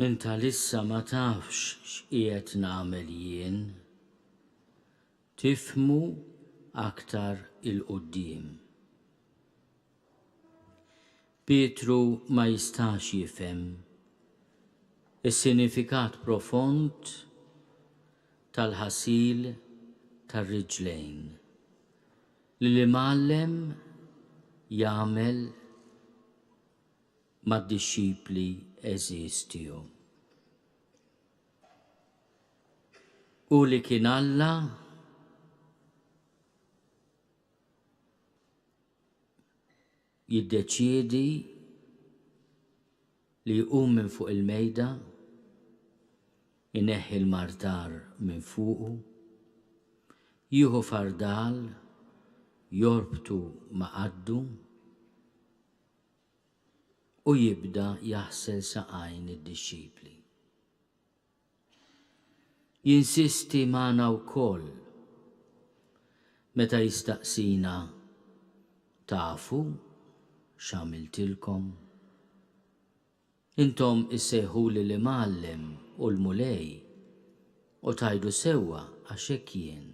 Inta lissa ma tafx x'qiegħed nagħmel jien. Tifmu aktar il-qudiem. Pietru ma jistax jifhem is-sinifikat profond tal-ħasil tar-riġlejn li l-Imgħallem jagħmel mad-dixxipli għeżież tiegħu. Hu li kien Alla jiddeċiedi li jqum minn fuq il-mejda, ineħħi l-martar minn fuqu, jieħu fardal, jorbtu ma' qaddu u jibda jaħsel saqajn id-dixxipli. Jinsisti magħna wkoll meta jistaqsina tafu x'għamiltilkom? Intom issejħuli l-Imgħallem u l-Mulej u tgħidu sewwa għax hekk jien.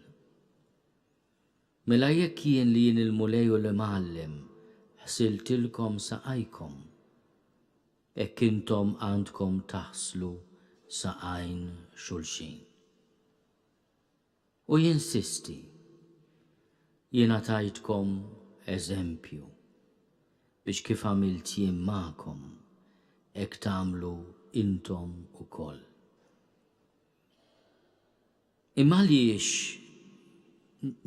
Mela jekk jien li jien il-Mulej u l-Imgħallem ħsiltilkom saqajkom, Hekk intom għandkom taħslu saqajn xulxin. U jinsisti, Jiena tajtkom eżempju, biex kif għamilt jien magħkom, hekk tagħmlu intom ukoll. Imma għaliex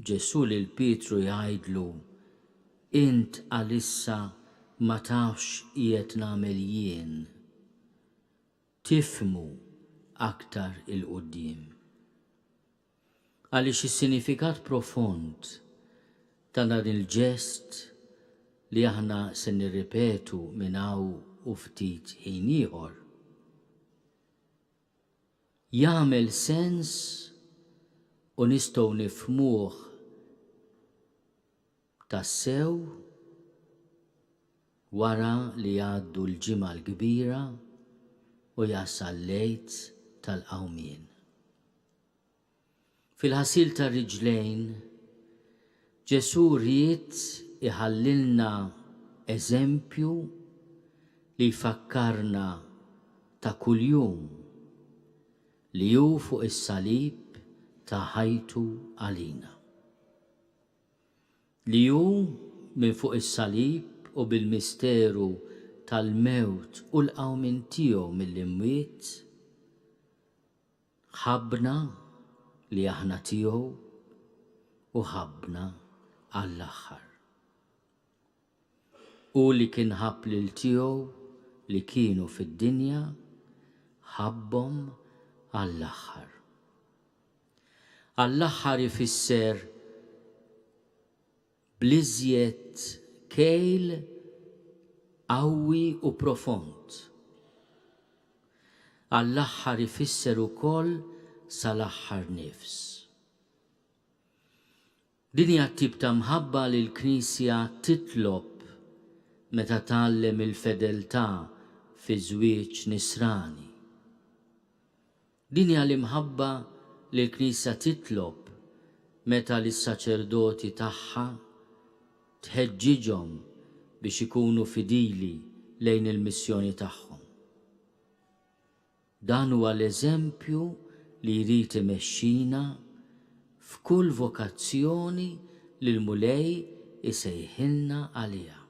Ġesù lil Pietru jgħidlu, Int għalissa ma tafx x'qiegħed nagħmel jien? Tifhmu aktar 'il quddiem. Għaliex is-sinifikat profond ta' dan il-ġest li aħna se nirripetu minn hawn u ftit ħin ieħor, Jagħmel sens u nistgħu nifhmuh tassew wara li jgħaddu l-Ġimgħa l-Kbira u jasal l-Għid tal-Qawmien. Fil-ħasil tar-riġlejn, Ġesù ried iħallilna eżempju li jfakkarna ta' kuljum li hu fuq is-salib ta ħajtu għalina. Li hu minn fuq is-salib u bil-misteru tal-mewt u l-qawmien tiegħu mill-imwiet, Ħabbna li aħna tiegħu u ħabbna għall-aħħar. Hu li kien ħabb lil tiegħu li kienu fid-dinja, ħabbhom għall-aħħar. Għall-aħħar ifisser bl-iżjed kejl qawwi u profond. Għall-aħħar ifisser ukoll sal-aħħar nifs. Din hija t-tip ta' mħabba li l-Knisja titlob meta tgħallem il-fedeltà fiż-żwieġ Nisrani. Din hija l-imħabba li l-Knisja titlob meta lis-saċerdoti tagħha tħeġġiġhom biex ikunu fidili lejn il-missjoni tagħhom. Dan huwa l-eżempju li jrid imexxina f'kull vokazzjoni li l-Mulej isejħilna għaliha.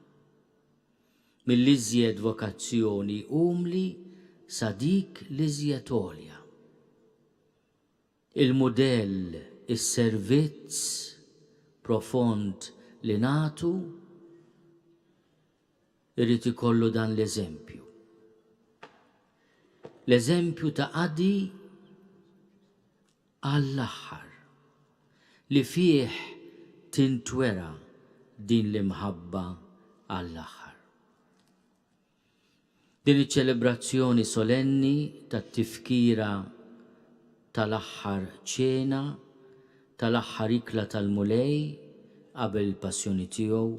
mill-iżjed vokazzjoni umli sa dik l-iżjed għolja. Il-mudell is-servizz profond li nagħtu jrid ikollu dan l-eżempju. L-eżempju ta' qadi għall-aħħar, li fih tintwera din l-imħabba għall-aħħar. Din iċ-ċelebrazzjoni solenni tat-Tifkira tal-Aħħar Ċena, tal-aħħar ikla tal-Mulej qabel il-Passjoni tiegħu,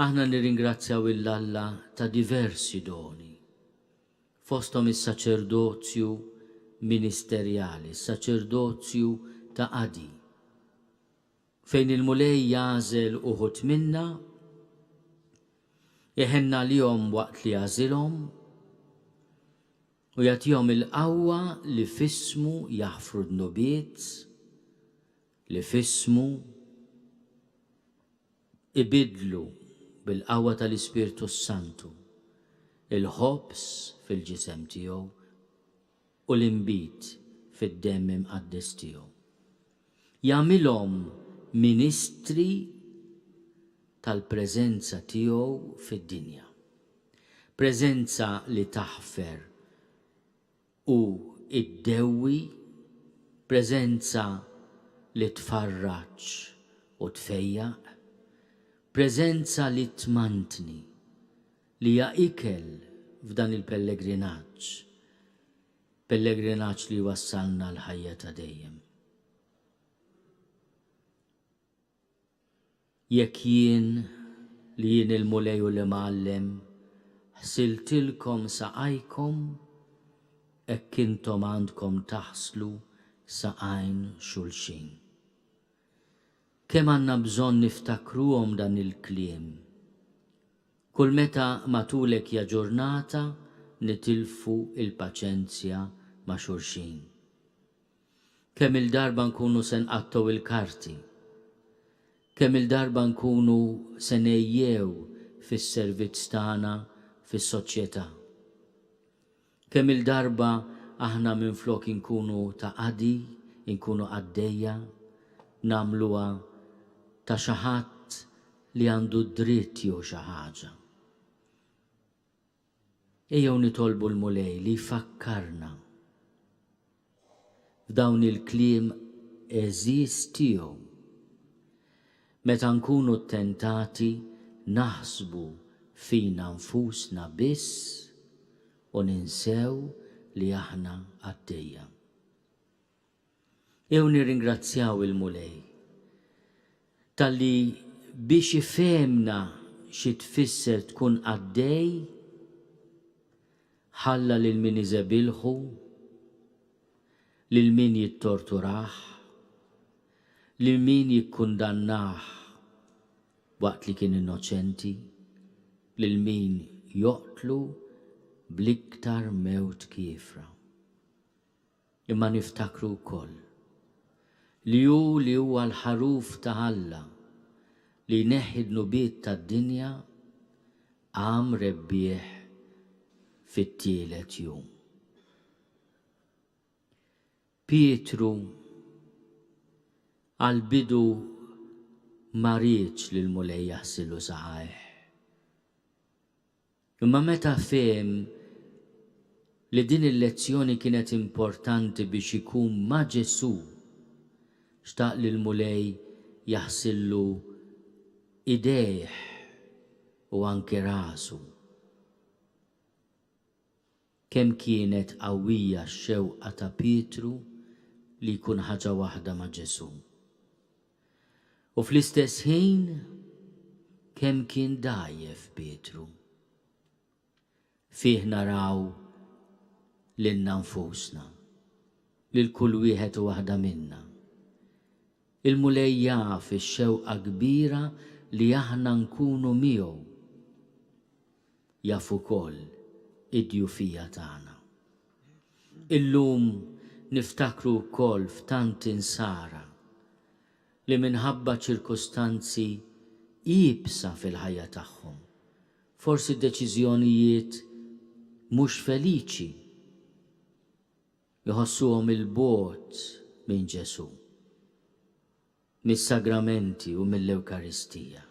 aħna nirringrazzjaw 'l Alla ta' diversi doni. fosthom is-saċerdozju ministerjali, is-saċerdozju ta' qadi, fejn il-Mulej jagħżel uħud minna, iħenn għalihom waqt li jagħżilhom, u jagħtihom il-qawwa li f'ismu jaħfru dnubiet, li f'ismu Ibiddlu, bil-qawwa tal-Ispirtu s-Santu, il-ħobż fil-ġisem tiegħu u l-inbid fid-demm imqaddes tiegħu. Jagħmilhom ministri tal-preżenza tiegħu fid-dinja. Preżenza li taħfer u ddewwi, preżenza li tfarraġ u tfejjaq, preżenza li tmantni, li hija ikel f'dan il-pellegrinaġġ, pellegrinaġġ li jwassalna l-ħajja ta' dejjem. Jekk jien, li jien il-Mulej u l-Imgħallem, ħsiltilkom saqajkom, hekk intom għandkom taħslu saqajn xulxin. Kemm għandna bżonn niftakruhom dan il-kliem! Kull meta matulek ja ġurnata nitilfu l-paċenzja ma' xulxin. Kemm-il darba nkunu se nqattgħu il-karti? Kemm-il darba nkunu se ngħejjew fis-servizz tagħna fis-soċjetà? Kemm-il darba aħna minflok inkunu ta' qadi, inkunu qaddejja, nagħmluha ta' xi ħadd li għandu d-dritt jieħu xi ħaġa? Ejjew nitolbu l-Mulej li jfakkarna f'dawn il-kliem għeżież tiegħu meta nkunu ttentati naħsbu fina nfusna biss u ninsew li aħna qaddejja. Jew nirringrazzjaw il-Mulej talli biex ifehmna xi tfisser tkun qaddej, ħalla lil min iżebilħu, lil min jittorturah, lil min jikkundannah waqt li kien innoċenti, lil min joqtlu bl-iktar mewt kiefra. Imma niftakru wkoll li hu li huwa l-Ħaruf ta' Alla li jneħħi d-dnubiet tad-dinja qam rebbieħ fit-tielet jum. Pietru għall-bidu ma riedx li l-Mulej jaħsilu saqajh. Imma meta fehem li din il-lezzjoni kienet importanti biex ikun ma' Ġesù, xtaq li l-Mulej jaħsillu idejh u anke rasu. Kemm kienet qawwija x-xewqa ta' Pietru li jkun ħaġa waħda ma' Ġesù! U fl-istess ħin, kemm kien dgħajjef Pietru! Fih naraw lilna nfusna, lil kull wieħed u waħda minna. Il-Mulej jaf ix-xewqa kbira li aħna nkunu miegħu. Jaf ukoll id-djufija tagħna. Illum niftakru wkoll f'tant Insara li minħabba ċirkustanzi iebsa fil-ħajja tagħhom, forsi deċiżjonijiet mhux feliċi, iħossuhom 'il bogħod minn Ġesù. mis-Sagramenti u mill-Ewkaristija.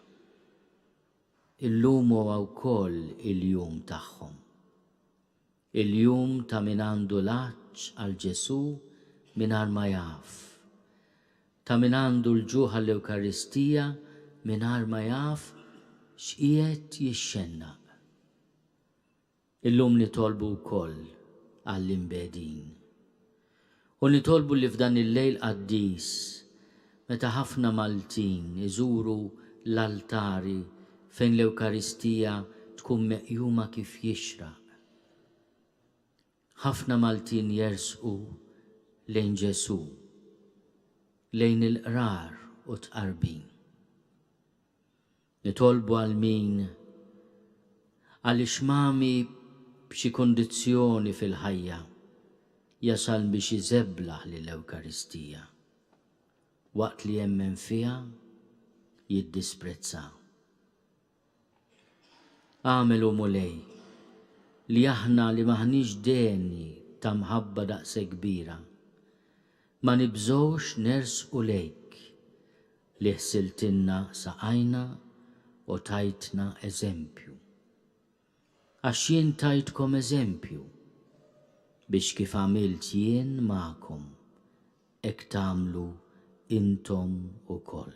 Illum huwa wkoll il-jum tagħhom. Il-jum ta' min għandu l-għatx għal Ġesù mingħajr ma jaf, ta' min għandu l-ġuħ għall-Ewkaristija mingħajr ma jaf x'qiegħed jixxennaq. Illum nitolbu wkoll għall-imbegħdin. U nitolbu li f'dan il-lejl qaddis, meta ħafna Maltin iżuru l-altari fejn l-Ewkaristija tkun meqjuma kif jixraq, ħafna Maltin jersqu lejn Ġesù, lejn il-Qrar u t-Tqarbin. Nitolbu għal min? Għaliex mgħami b'xi kundizzjoni fil-ħajja jasal biex iżeblaħ lill-Ewkaristija, waqt li jemmen fiha jiddisprezzha? Agħmel, O Mulej, li aħna li m'aħniex degni ta' mħabba daqshekk kbira, Ma nibżgħux nersqu lejk, li ħsiltilna saqajna u tajtna eżempju. Għax jien tajtkom eżempju, biex kif għamilt jien magħkom, hekk tagħmlu intom ukoll.